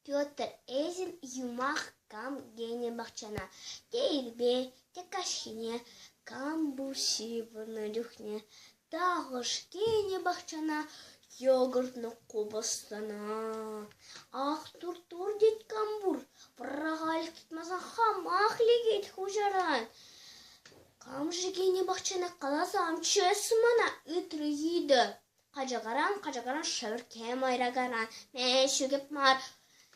Петр Эзин юмах кам тенӗ пахчана те ирпе, те каҫхине, кам пур ҫыпӑннӑ чухне, тахӑш тенӗ пахчана йогуртлӑ купӑстана. Ах, тур-тур тет кам пур, пӑрахаль тытмасан хамах лекет хуҫаран. Кам-ши кинӗ пахчана каласа ам чесӗ мана? ыйтрӗ йытӑ. Качакаран, качакаран, шӗвӗркке майракаран, меҫу кеп мар,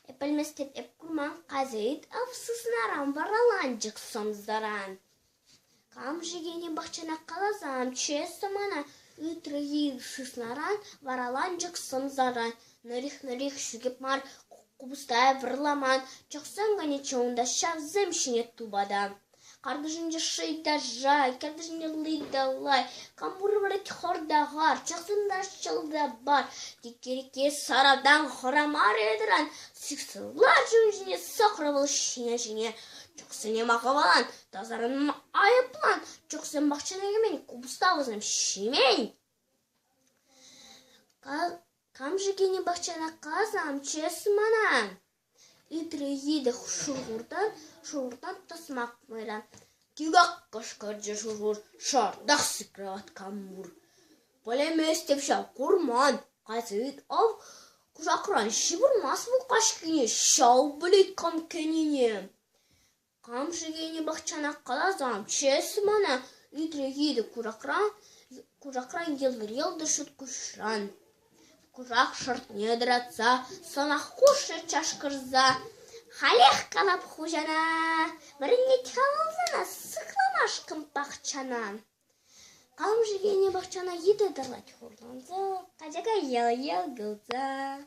эп пӗлместен эп курман козейт Авсуснаран вараланчӑк сӑмсаран. Кам-ши кинӗ пахчана каласа ам чесӗ мана? ыйтрӗ йыт шыснаран, вараланчӑк сӑмсаран. Нӑрих-нӑрих шӳкеп мар, купӑстая вырламан, чӑхсем кайнӑччӗ унта ҫавсем ҫине тупата. Картишӗнче ши та ша, картишӗнче ли та лай, кампур вӗрет хор та хар, чӑхсем та ҫӑл та пар. Тикерке саратан хӑрамарӗ-тӑран, сиксе ларчӗ ун ҫине сӑкрӑ вӑл ҫине-ҫине. Чӑхсене макӑвалан, тасарӑнма айӑплан, чӑхсем пахчана кӗмен, купӑста вӗсем ҫимен. Кам-ши кӗнӗ пахчана касам, чес манан. Итле йытӑ шӑнкӑртан шӑнкӑртан тӑсмак майра тӳрех кӑшкӑрчӗ шӑнкӑрт шартах сыхланать калмур. Пӗлместӗп ҫав, курман. Кайса ют ав кушакран ҫывӑрмасть мулкач кине ҫав пулет кам кӗнине. Кам-ши тени пахчанах каласан, чесӗ мана ӳтрӗ-хитӗ куракран йӑлтӑр-йӑлтӑр ҫут куҫран. Курак шӑртне тӑратса, сӑнах хушрӗ чашкӑрса. Халех калап хуҫана, вӗренет-ха вӑл сана сыхламашкӑн пахчанан. Кам-ши тени пахчана йытӑ тӑрать хурланса, качака йӑл-йӑл кулса.